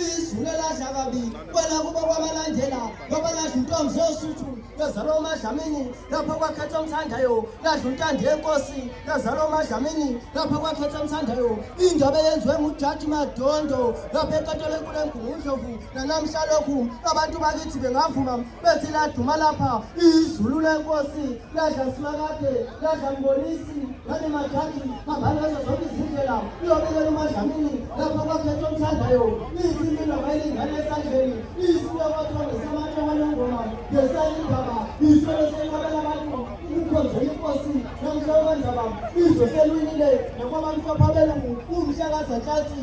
izulu eladla kabi kwela kubo kwabalandela ngoba ladla intombi zosuthu lazalwa umadlamini lapho kwakhetha omthandayo ladla untandi yenkosi lazalwa umadlamini lapho kwakhetha omthandayo indaba eyenziwe ngujaji madondo lapho enkatolo enkulu engungundlovu nanamhla lokhu abantu bakithi bengavuma bethi laduma lapha izulu lenkosi ladla simakade ladla mbonisi ngane majaji hambani ngazo zonke izindlela uyobekela umadlamini lapha kwakhetha omthandayo ithi mina bayilingane esandleni isiwe kwathonge samanye walengoma ngesayindaba isolo senkabela abantu ukukhonza inkosi namhla wendaba izwe selwinile nakwabamhlopha belungu umhlakazantatsi